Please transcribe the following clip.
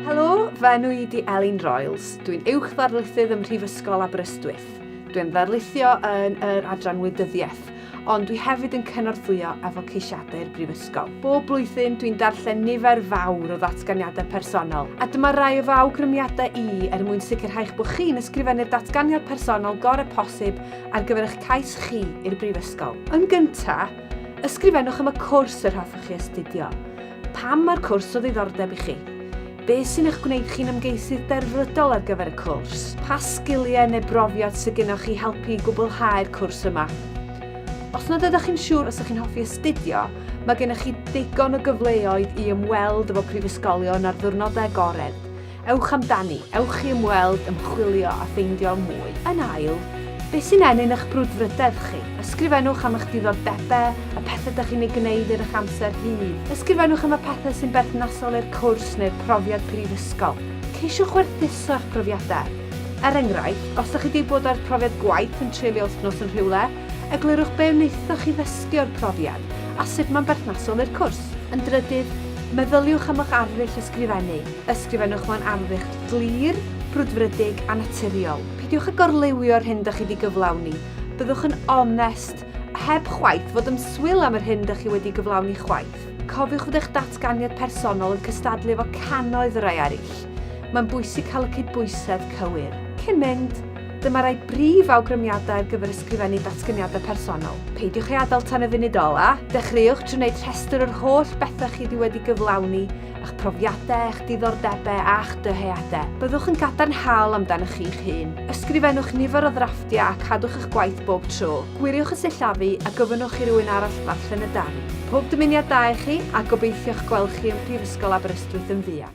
Helo, fy enw i di Elin Royals. Dwi'n uwch ddarlithydd ym Mhrifysgol Aberystwyth. Dwi'n ddarlithio yn yr adran wleidyddiaeth, ond dwi hefyd yn cynorthwyo efo ceisiadau'r Brifysgol. Bob blwyddyn dwi'n darllen nifer fawr o ddatganiadau personol, a dyma rai o fy awgrymiadau i er mwyn sicrhau'ch bod chi'n ysgrifennu'r datganiad personol gorau posib ar gyfer eich cais chi i'r Brifysgol. Yn gyntaf, ysgrifennwch am y cwrs yr hoffech chi astudio. Pam mae'r cwrs o ddiddordeb i chi? Be sy'n eich gwneud chi'n ymgeisydd derfrydol ar gyfer y cwrs? Pa sgiliau neu brofiad sydd gennych chi helpu i gwblhau'r cwrs yma? Os nad ydych chi'n siŵr os ydych chi'n hoffi astudio, mae gennych chi ddigon o gyfleoedd i ymweld efo prifysgolion ar ddiwrnodau agored, Ewch amdani, ewch i ymweld, ymchwilio a ffeindio mwy. Yn ail, beth sy'n ennyn eich brwdfrydedd chi? Ysgrifennwch am eich diddordebau, y pethau dych chi'n ei gwneud ar eich amser rhydd. Ysgrifennwch am y pethau sy'n berthnasol i'r cwrs neu'r profiad prifysgol. Ceisiwch werthuso eich profiadau. Er enghraifft, os ydych chi wedi bod â'r profiad gwaith yn treulio wythnos yn rhywle, eglurwch be wnaethoch chi ddysgu o'r profiad a sut mae'n berthnasol i'r cwrs. Yn drydydd, meddyliwch am eich arddull ysgrifennu. Ysgrifennwch mewn arddcht glir, brwdfrydig a naturiol. Peidiwch â gorliwio'r hyn dych chi wedi gyflawni. Byddwch yn onest, heb chwaith fod yn swil am yr hyn dych chi wedi gyflawni chwaith. Cofiwch fod eich datganiad personol yn cystadlu efo cannoedd o rai eraill. Mae'n bwysig cael y cydbwysedd cywir. Cyn mynd, dyma rai brif awgrymiadau ar gyfer ysgrifennu datganiadau personol. Peidiwch ei adael tan y funud ola'. Dechreuwch trwy wneud rhestr o'r holl bethau chi wedi wedi gyflawni a'ch profiadau, eich diddordebau a'ch dyheadau. Byddwch yn gadarnhaol amdanoch chi'ch hun. Ysgrifennwch nifer o ddrafftiau a cadwch eich gwaith bob tro. Gwiriwch y sillafu a gofynnwch i rywun arall ddarllen y darn. Pob dymuniad da i chi, a gobeithio'ch gweld chi ym Mhrifysgol Aberystwyth yn fuan.